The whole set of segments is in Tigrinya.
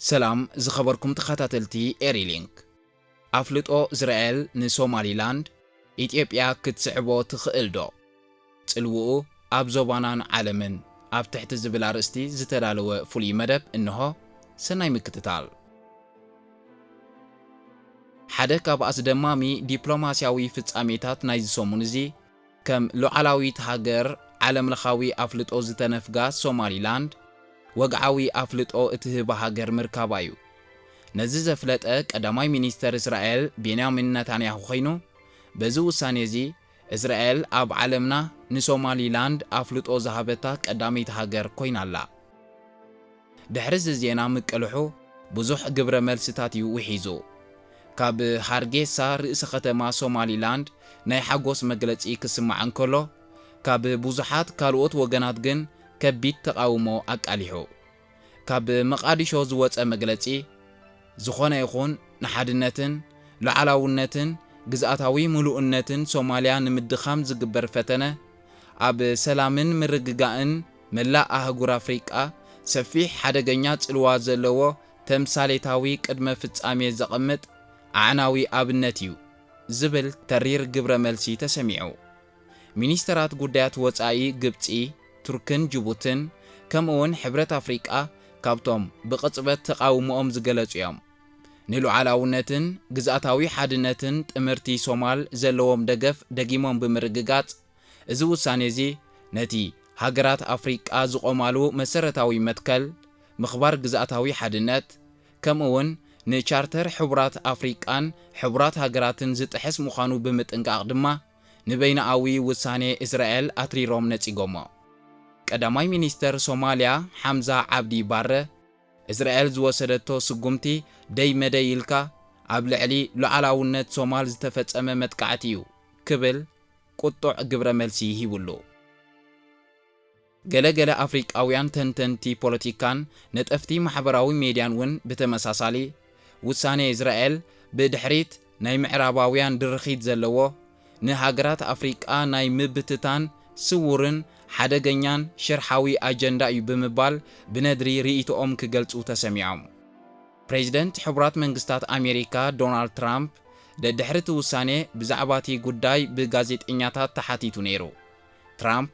ሰላም ዝኸበርኩም ተኻታተልቲ ኤሪ ሊንክ ኣፍልጦ ዝረኤል ንሶማሊ ላንድ ኢትዮጵያ ክትስዕቦ ትኽእል ዶ? ጽልውኡ ኣብ ዞባናን ዓለምን ኣብ ትሕቲ ዝብል ኣርእስቲ ዝተዳለወ ፍሉይ መደብ እንሆ ሰናይ ምክትታል። ሓደ ካብ ኣስደማሚ ዲፕሎማሲያዊ ፍጻሜታት ናይዚ ሰሙን እዚ ከም ሉዓላዊት ሃገር ዓለምለኻዊ ኣፍልጦ ዝተነፍጋ ሶማሊላንድ፣ ወግዓዊ ኣፍልጦ እትህባ ሃገር ምርካባ'ዩ። ነዚ ዘፍለጠ ቀዳማይ ሚኒስተር እስራኤል ቤንያሚን ነታንያሁ ኰይኑ፣ በዚ ውሳኔ'ዚ እስራኤል ኣብ ዓለምና ንሶማሊላንድ ኣፍልጦ ዝሃበታ ቀዳመይቲ ሃገር ኰይና'ላ። ድሕሪ እዚ ዜና ምቅልሑ ብዙሕ ግብረ መልስታት እዩ ውሒዙ። ካብ ሃርጌሳ ርእሲ ከተማ ሶማሊላንድ ናይ ሓጎስ መግለጺ ክስማዕ እንከሎ፣ ካብ ብዙሓት ካልኦት ወገናት ግን ከቢድ ተቓውሞ ኣቃሊሑ። ካብ መቓዲሾ ዝወጸ መግለጺ፣ ዝኾነ ይኹን ንሓድነትን ሉዓላውነትን ግዝኣታዊ ምሉእነትን ሶማልያ ንምድኻም ዝግበር ፈተነ፣ ኣብ ሰላምን ምርግጋእን መላእ ኣህጉር ኣፍሪቃ ሰፊሕ ሓደገኛ ጽልዋ ዘለዎ ተምሳሌታዊ ቅድመ ፍጻሜ ዘቐምጥ ኣዕናዊ ኣብነት እዩ ዝብል ተሪር ግብረ መልሲ ተሰሚዑ። ሚኒስተራት ጉዳያት ወጻኢ ግብጺ፣ ቱርክን ጅቡትን ከምኡ'ውን ሕብረት ኣፍሪቃ ካብቶም ብቕጽበት ተቓውሞኦም ዝገለጹ እዮም። ንሉዓላውነትን ግዝኣታዊ ሓድነትን ጥምርቲ ሶማል ዘለዎም ደገፍ ደጊሞም ብምርግጋጽ፣ እዚ ውሳኔ'ዚ ነቲ ሃገራት ኣፍሪቃ ዝቖማሉ መሰረታዊ መትከል ምኽባር ግዝኣታዊ ሓድነት ከምኡ'ውን ንቻርተር ሕቡራት ኣፍሪቃን ሕቡራት ሃገራትን ዝጥሕስ ምዃኑ ብምጥንቃቕ ድማ ንበይንኣዊ ውሳኔ እስራኤል ኣትሪሮም ነጺጎሞ። ቀዳማይ ሚኒስተር ሶማልያ ሓምዛ ዓብዲ ባረ፣ እስራኤል ዝወሰደቶ ስጉምቲ ደይ መደይ ኢልካ ኣብ ልዕሊ ሉዓላውነት ሶማል ዝተፈጸመ መጥቃዕቲ'ዩ ክብል ቁጡዕ ግብረ መልሲ ሂቡሉ። ገለ ገለ ኣፍሪቃውያን ተንተንቲ ፖለቲካን ነጠፍቲ ማሕበራዊ ሜድያን ውን ብተመሳሳሊ፣ ውሳኔ እዝራኤል ብድሕሪት ናይ ምዕራባውያን ድርኺት ዘለዎ፣ ንሃገራት ኣፍሪቃ ናይ ምብትታን ስዉርን ሓደገኛን ሽርሓዊ ኣጀንዳ'ዩ ብምባል ብነድሪ ርእይቶኦም ክገልጹ ተሰሚዖም። ፕሬዚደንት ሕቡራት መንግስታት ኣሜሪካ ዶናልድ ትራምፕ ደድሕሪ እቲ ውሳኔ ብዛዕባ እቲ ጉዳይ ብጋዜጠኛታት ተሓቲቱ ነይሩ። ትራምፕ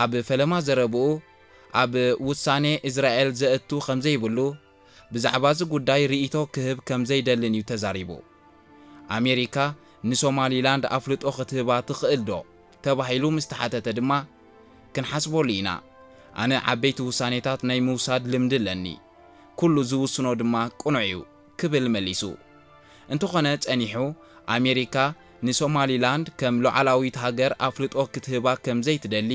ኣብ ፈለማ ዘረብኡ ኣብ ውሳኔ እዝራኤል ዘእቱ ከምዘይብሉ ብዛዕባ እዚ ጉዳይ ርኢቶ ክህብ ከምዘይደልን እዩ ተዛሪቡ። ኣሜሪካ ንሶማሊላንድ ኣፍልጦ ክትህባ ትኽእል ዶ? ተባሂሉ ምስ ተሓተተ ድማ፣ ክንሓስበሉ ኢና። ኣነ ዓበይቲ ውሳኔታት ናይ ምውሳድ ልምዲ ኣለኒ። ኩሉ ዝውስኖ ድማ ቅኑዕ እዩ ክብል መሊሱ። እንተኾነ ጸኒሑ ኣሜሪካ ንሶማሊላንድ ከም ሉዓላዊት ሃገር ኣፍልጦ ክትህባ ከም ዘይትደሊ፣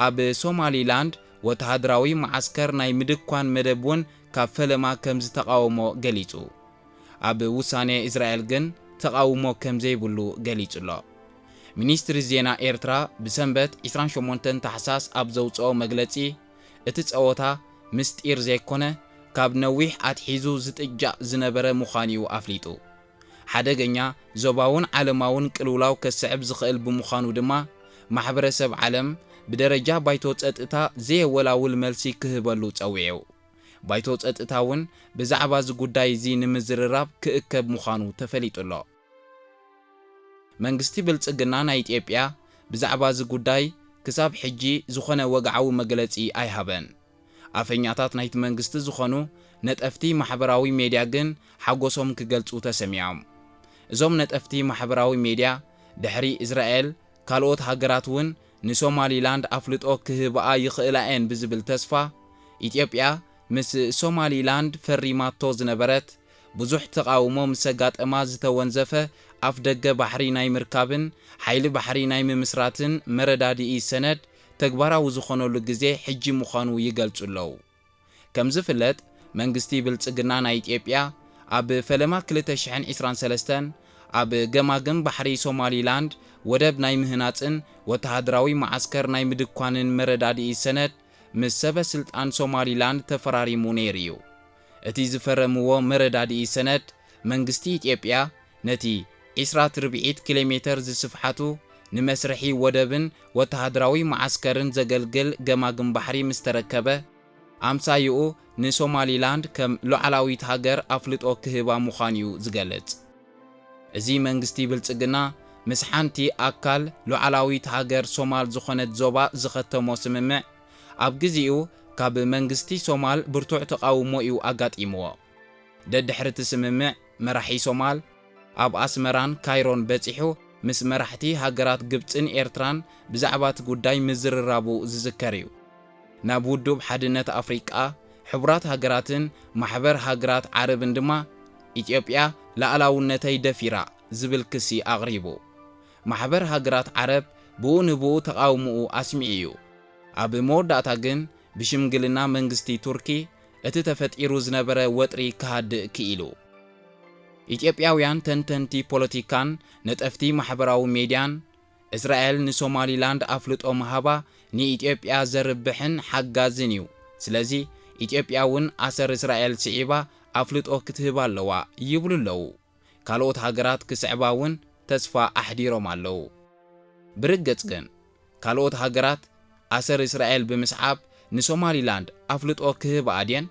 ኣብ ሶማሊላንድ ወተሃደራዊ መዓስከር ናይ ምድኳን መደብ እውን ካብ ፈለማ ከም ዝተቓወሞ ገሊጹ። ኣብ ውሳኔ እስራኤል ግን ተቓውሞ ከም ዘይብሉ ገሊጹ'ሎ። ሚኒስትሪ ዜና ኤርትራ ብሰንበት ዕስራን ሸሞንተን ታሕሳስ ኣብ ዘውጽኦ መግለጺ፣ እቲ ጸወታ ምስጢር ዘይኮነ ካብ ነዊሕ ኣትሒዙ ዝጥጃእ ዝነበረ ምዃኑ'ዩ ኣፍሊጡ። ሓደገኛ ዞባውን ዓለማውን ቅልውላው ከስዕብ ዝኽእል ብምዃኑ ድማ ማሕበረሰብ ዓለም ብደረጃ ባይቶ ጸጥታ ዘየወላውል መልሲ ክህበሉ ጸዊዑ። ባይቶ ጸጥታ'ውን ብዛዕባ'ዚ ጉዳይ'ዚ ንምዝርራብ ክእከብ ምዃኑ ተፈሊጡ'ሎ። መንግስቲ ብልጽግና ናይ ኢትዮጵያ ብዛዕባ እዚ ጉዳይ ክሳብ ሕጂ ዝኾነ ወግዓዊ መግለጺ ኣይሃበን። ኣፈኛታት ናይቲ መንግስቲ ዝኾኑ ነጠፍቲ ማሕበራዊ ሜድያ ግን ሓጎሶም ክገልጹ ተሰሚዖም። እዞም ነጠፍቲ ማሕበራዊ ሜድያ ድሕሪ እስራኤል ካልኦት ሃገራት እውን ንሶማሊላንድ ኣፍልጦ ክህብኣ ይኽእላ'የን ብዝብል ተስፋ ኢትዮጵያ ምስ ሶማሊላንድ ፈሪማቶ ዝነበረት ብዙሕ ተቓውሞ ምስ ኣጋጠማ ዝተወንዘፈ ኣፍደገ ባሕሪ ናይ ምርካብን ሓይሊ ባሕሪ ናይ ምምስራትን መረዳድኢ ሰነድ ተግባራዊ ዝኾነሉ ግዜ ሕጂ ምዃኑ ይገልጹ ኣለዉ። ከምዝፍለጥ መንግስቲ ብልጽግና ናይ ኢትዮጵያ ኣብ ፈለማ ክልተ ሽሕን ዕስራን ሰለስተን ኣብ ገማግም ባሕሪ ሶማሊ ላንድ ወደብ ናይ ምህናጽን ወተሃደራዊ መዓስከር ናይ ምድኳንን መረዳድኢ ሰነድ ምስ ሰበ ስልጣን ሶማሊ ላንድ ተፈራሪሙ ነይሩ እዩ። እቲ ዝፈረምዎ መረዳድኢ ሰነድ፣ መንግስቲ ኢትዮጵያ ነቲ ዒስራት ርብዒት ኪሎሜተር ዝስፍሓቱ ንመስርሒ ወደብን ወተሃደራዊ መዓስከርን ዘገልግል ገማግም ባሕሪ ምስ ተረከበ፣ ኣምሳይኡ ንሶማሊላንድ ከም ሉዓላዊት ሃገር ኣፍልጦ ክህባ ምዃኑ'ዩ ዝገልጽ። እዚ መንግስቲ ብልጽግና ምስ ሓንቲ ኣካል ሉዓላዊት ሃገር ሶማል ዝኾነት ዞባ ዝኸተሞ ስምምዕ፣ ኣብ ግዚኡ ካብ መንግስቲ ሶማል ብርቱዕ ተቓውሞ እዩ ኣጋጢምዎ። ደድሕሪ እቲ ስምምዕ፣ መራሒ ሶማል፣ ኣብ ኣስመራን ካይሮን በጺሑ ምስ መራሕቲ ሃገራት ግብጽን ኤርትራን ብዛዕባ እቲ ጉዳይ ምዝርራቡ ዝዝከር እዩ። ናብ ውዱብ ሓድነት ኣፍሪቃ፣ ሕቡራት ሃገራትን ማሕበር ሃገራት ዓረብን ድማ ኢትዮጵያ ላኣላውነተይ ደፊራ ዝብል ክሲ ኣቕሪቡ። ማሕበር ሃገራት ዓረብ ብኡ ንብኡ ተቓውምኡ ኣስሚዑ እዩ። ኣብ መወዳእታ ግን ብሽምግልና መንግስቲ ቱርኪ እቲ ተፈጢሩ ዝነበረ ወጥሪ ክሃድእ ክኢሉ። ኢትዮጵያውያን ተንተንቲ ፖለቲካን ነጠፍቲ ማሕበራዊ ሜድያን፣ እስራኤል ንሶማሊላንድ ኣፍልጦ ምሃባ ንኢትዮጵያ ዘርብሕን ሓጋዝን እዩ፣ ስለዚ ኢትዮጵያ እውን ኣሰር እስራኤል ስዒባ ኣፍልጦ ክትህብ ኣለዋ ይብሉ ኣለዉ። ካልኦት ሃገራት ክስዕባ እውን ተስፋ ኣሕዲሮም ኣለዉ። ብርግጽ ግን፣ ካልኦት ሃገራት ኣሰር እስራኤል ብምስዓብ ንሶማሊላንድ ኣፍልጦ ክህብኣ ድየን?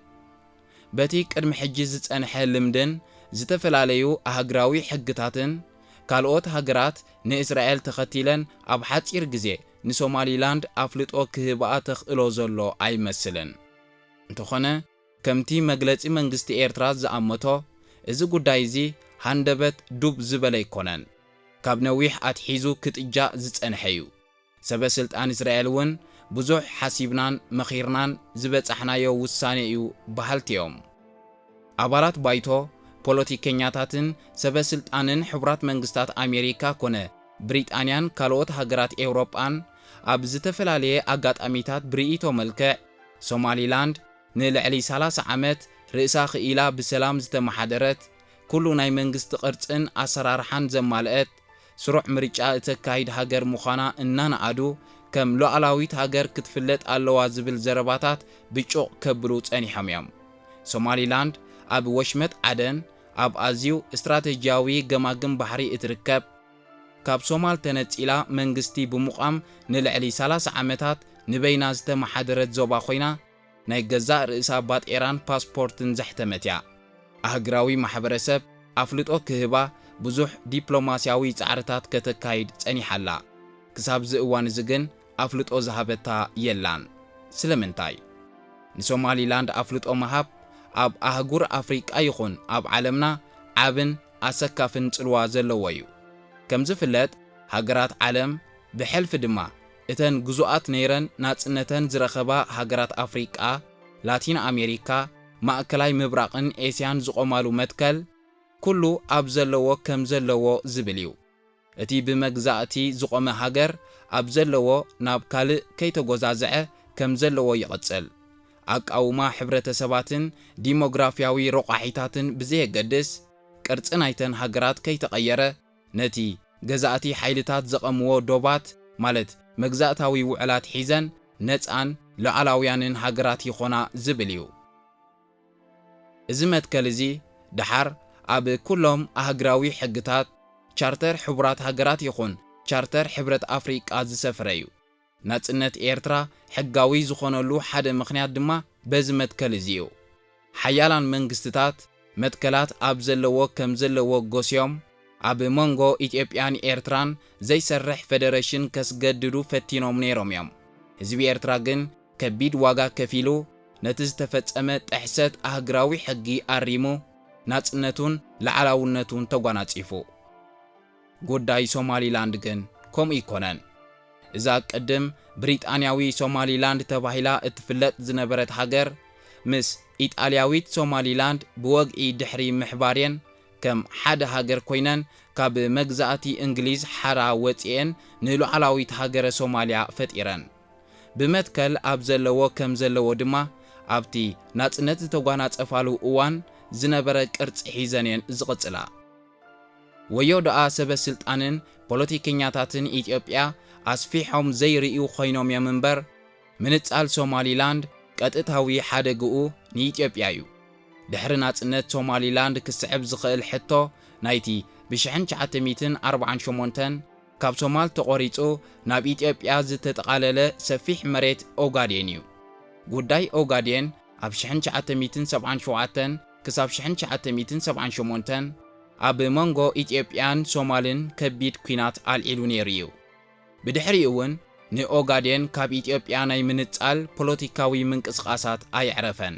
በቲ ቅድሚ ሕጂ ዝጸንሐ ልምድን ዝተፈላለዩ ኣህግራዊ ሕግታትን፣ ካልኦት ሃገራት ንእስራኤል ተኸቲለን ኣብ ሓጺር ግዜ ንሶማሊላንድ ኣፍልጦ ክህብኣ ተኽእሎ ዘሎ ኣይመስልን። እንተዀነ፣ ከምቲ መግለጺ መንግስቲ ኤርትራ ዝኣመቶ፣ እዚ ጉዳይ እዚ ሃንደበት ዱብ ዝበለ ኣይኮነን። ካብ ነዊሕ ኣትሒዙ ክጥጃእ ዝጸንሐ'ዩ። ሰበ ስልጣን እስራኤል እውን ብዙሕ ሓሲብናን መኺርናን ዝበጻሕናዮ ውሳኔ'ዩ በሃልቲ'ዮም። ኣባላት ባይቶ፣ ፖለቲከኛታትን ሰበ ስልጣንን ሕቡራት መንግስታት ኣሜሪካ ኮነ ብሪጣንያን ካልኦት ሃገራት ኤውሮጳን ኣብ ዝተፈላለየ ኣጋጣሚታት ብርእይቶ መልክዕ፣ ሶማሊላንድ ንልዕሊ ሰላሳ ዓመት ርእሳ ክኢላ ብሰላም ዝተመሓደረት፣ ኩሉ ናይ መንግስቲ ቅርጽን ኣሰራርሓን ዘማልአት፣ ስሩዕ ምርጫ እተካይድ ሃገር ምዃና እናነኣዱ፣ ከም ሉኣላዊት ሃገር ክትፍለጥ ኣለዋ ዝብል ዘረባታት ብጩቕ ከብሉ ጸኒሖም እዮም። ሶማሊላንድ ኣብ ወሽመጥ ዓደን ኣብ ኣዝዩ ስትራተጂያዊ ገማግም ባሕሪ እትርከብ፣ ካብ ሶማል ተነጺላ መንግስቲ ብምቛም ንልዕሊ ሰላሳ ዓመታት ንበይና ዝተመሓደረት ዞባ ኮይና፣ ናይ ገዛእ ርእሳ ባጤራን ፓስፖርትን ዘሕተመት እያ። ኣህግራዊ ማሕበረሰብ ኣፍልጦ ክህባ ብዙሕ ዲፕሎማስያዊ ጻዕርታት ከተካይድ ጸኒሓ ኣላ። ክሳብ'ዚ እዋን እዚ ግን ኣፍልጦ ዝሃበታ የላን። ስለምንታይ? ንሶማሊላንድ ኣፍልጦ ምሃብ ኣብ ኣህጉር ኣፍሪቃ ይኹን ኣብ ዓለምና ዓብን፣ ኣሰካፍን ጽልዋ ዘለዎ እዩ። ከም ዝፍለጥ ሃገራት ዓለም ብሕልፊ ድማ እተን ግዙኣት ነይረን ናጽነተን ዝረኸባ ሃገራት ኣፍሪቃ፣ ላቲን ኣሜሪካ፣ ማእከላይ ምብራቕን ኤስያን ዝቖማሉ መትከል ኩሉ ኣብ ዘለዎ ከም ዘለዎ ዝብል እዩ። እቲ ብመግዛእቲ ዝቖመ ሃገር ኣብ ዘለዎ ናብ ካልእ ከይተጎዛዘዐ ከም ዘለዎ ይቕጽል። ኣቃውማ ሕብረተሰባትን ዲሞግራፊያዊ ሮቛሒታትን ብዘየገድስ፣ ቅርጺ ናይተን ሃገራት ከይተቐየረ፣ ነቲ ገዛእቲ ሓይልታት ዘቘምዎ ዶባት፣ ማለት መግዛእታዊ ውዕላት ሒዘን ነጻን ሉዓላውያንን ሃገራት ይኾና ዝብል እዩ። እዚ መትከል እዚ ደሓር ኣብ ኩሎም ኣህግራዊ ሕግታት፣ ቻርተር ሕቡራት ሃገራት ይኹን ቻርተር ሕብረት ኣፍሪቃ ዝሰፍረ እዩ። ናጽነት ኤርትራ ሕጋዊ ዝኾነሉ ሓደ ምኽንያት ድማ በዚ መትከል እዚ እዩ። ሓያላን መንግስትታት መትከላት ኣብ ዘለዎ ከም ዘለዎ ጎስዮም ኣብ መንጎ ኢትዮጵያን ኤርትራን ዘይሰርሕ ፈደረሽን ከስገድዱ ፈቲኖም ነይሮም እዮም። ህዝቢ ኤርትራ ግን ከቢድ ዋጋ ከፊሉ ነቲ ዝተፈጸመ ጥሕሰት ኣህግራዊ ሕጊ ኣሪሙ ናጽነቱን ልዓላውነቱን ተጓናጺፉ። ጉዳይ ሶማሊላንድ ግን ከምኡ ኣይኮነን። እዛ ቅድም ብሪጣንያዊ ሶማሊላንድ ተባሂላ እትፍለጥ ዝነበረት ሃገር ምስ ኢጣልያዊት ሶማሊላንድ ብወግዒ ድሕሪ ምሕባርየን ከም ሓደ ሃገር ኮይነን ካብ መግዛእቲ እንግሊዝ ሓራ ወጺኤን ንሉዓላዊት ሃገረ ሶማልያ ፈጢረን። ብመትከል ኣብ ዘለዎ ከም ዘለዎ ድማ ኣብቲ ናጽነት ዝተጓናጸፋሉ እዋን ዝነበረ ቅርጺ ሒዘን እየን ዝቕጽላ። ወዮ ደኣ ሰበ ስልጣንን ፖለቲከኛታትን ኢትዮጵያ ኣስፊሖም ዘይርእዩ ኮይኖም እዮም እምበር፣ ምንጻል ሶማሊላንድ ቀጥታዊ ሓደግኡ ንኢትዮጵያ እዩ። ድሕሪ ናጽነት ሶማሊላንድ ክስዕብ ዝኽእል ሕቶ ናይቲ ብሽሕን ትሽዓተ ሚእትን ኣርብዓን ሸሞንተን፣ ካብ ሶማል ተቖሪጹ ናብ ኢትዮጵያ ዝተጠቓለለ ሰፊሕ መሬት ኦጋዴን እዩ። ጉዳይ ኦጋዴን ኣብ ሽሕን ትሽዓተ ሚእትን ሰብዓን ሸውዓተን ክሳብ ሽሕን ትሽዓተ ሚእትን ሰብዓን ሸሞንተን ኣብ መንጎ ኢትዮጵያን ሶማልን ከቢድ ኲናት ኣልዒሉ ነይሩ እዩ። ብድሕሪኡ እውን ንኦጋዴን ካብ ኢትዮጵያ ናይ ምንጻል ፖለቲካዊ ምንቅስቓሳት ኣየዕረፈን።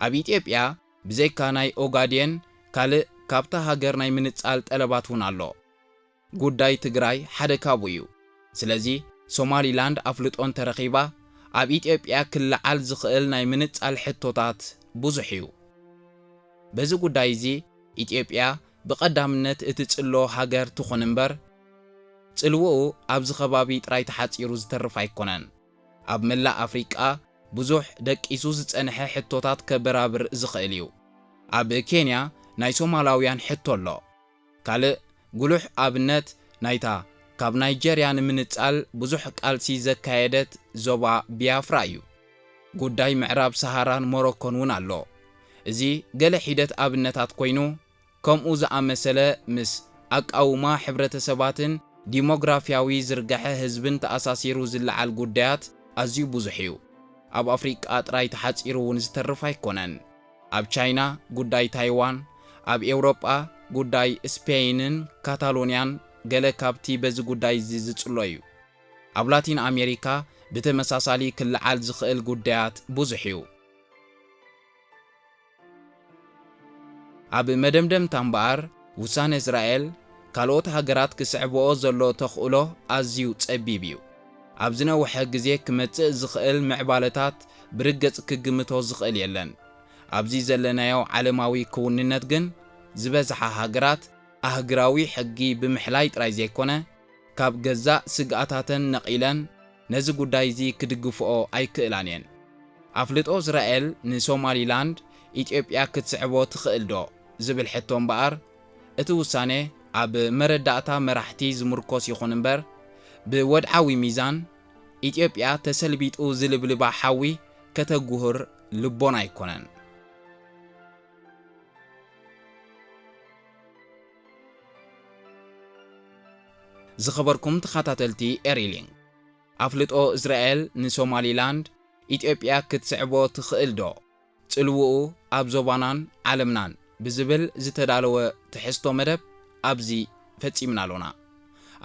ኣብ ኢትዮጵያ ብዘይካ ናይ ኦጋዴን ካልእ ካብታ ሃገር ናይ ምንጻል ጠለባት እውን ኣሎ። ጉዳይ ትግራይ ሓደ ካብኡ እዩ። ስለዚ ሶማሊላንድ ኣፍልጦ እንተረኺባ ኣብ ኢትዮጵያ ክለዓል ዝኽእል ናይ ምንጻል ሕቶታት ብዙሕ እዩ። በዚ ጉዳይ እዚ ኢትዮጵያ ብቐዳምነት እትጽሎ ሃገር ትኹን እምበር ጽልውኡ ኣብዚ ከባቢ ጥራይ ተሓጺሩ ዝተርፍ ኣይኮነን። ኣብ መላእ ኣፍሪቃ ብዙሕ ደቂሱ ዝጸንሐ ሕቶታት ከበራብር ዝኽእል እዩ። ኣብ ኬንያ ናይ ሶማላውያን ሕቶ ኣሎ። ካልእ ጉሉሕ ኣብነት ናይታ ካብ ናይጀርያ ንምንጻል ብዙሕ ቃልሲ ዘካየደት ዞባ ቢያፍራ እዩ። ጉዳይ ምዕራብ ሰሃራን ሞሮኮን እውን ኣሎ። እዚ ገለ ሒደት ኣብነታት ኮይኑ፣ ከምኡ ዝኣመሰለ ምስ ኣቃውማ ሕብረተሰባትን ዲሞግራፊያዊ ዝርጋሐ ህዝብን ተኣሳሲሩ ዝለዓል ጉዳያት ኣዝዩ ብዙሕ እዩ። ኣብ ኣፍሪቃ ጥራይ ተሓጺሩ እውን ዝተርፍ ኣይኮነን። ኣብ ቻይና ጉዳይ ታይዋን፣ ኣብ ኤውሮጳ ጉዳይ ስፔይንን ካታሎንያን ገለ ካብቲ በዚ ጉዳይ'ዚ ዝጽሎ እዩ። ኣብ ላቲን ኣሜሪካ ብተመሳሳሊ ክለዓል ዝኽእል ጉዳያት ብዙሕ እዩ። ኣብ መደምደምታ እምበኣር፣ ውሳነ እስራኤል፣ ካልኦት ሃገራት ክስዕበኦ ዘሎ ተኽእሎ ኣዝዩ ጸቢብ እዩ። ኣብ ዝነውሐ ግዜ ክመጽእ ዝኽእል ምዕባለታት ብርግጽ ክግምቶ ዝኽእል የለን። ኣብዚ ዘለናዮ ዓለማዊ ክውንነት ግን ዝበዝሓ ሃገራት ኣህግራዊ ሕጊ ብምሕላይ ጥራይ ዘይኮነ ካብ ገዛእ ስግኣታተን ነቒለን ነዚ ጉዳይ እዚ ክድግፍኦ ኣይክእላን እየን። ኣፍልጦ እስራኤል ንሶማሊላንድ ኢትዮጵያ ክትስዕቦ ትኽእልዶ ዝብል ሕቶ እምበኣር፣ እቲ ውሳነ ኣብ መረዳእታ መራሕቲ ዝምርኮስ ይኹን እምበር ብወድዓዊ ሚዛን ኢትዮጵያ ተሰልቢጡ ዝልብልባ ሓዊ ከተጉህር ልቦና ኣይኮነን። ዝኸበርኩም ተኻታተልቲ ኤሪ ሊንክ ኣፍልጦ እስራኤል ንሶማሊላንድ ኢትዮጵያ ክትስዕቦ ትኽእል ዶ? ጽልውኡ ኣብ ዞባናን ዓለምናን ብዝብል ዝተዳለወ ትሕዝቶ መደብ ኣብዚ ፈጺምና ኣሎና።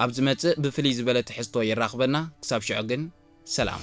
ኣብ ዝመጽእ ብፍልይ ዝበለ ትሕዝቶ የራኽበና ክሳብ ሽዑ ግን ሰላም።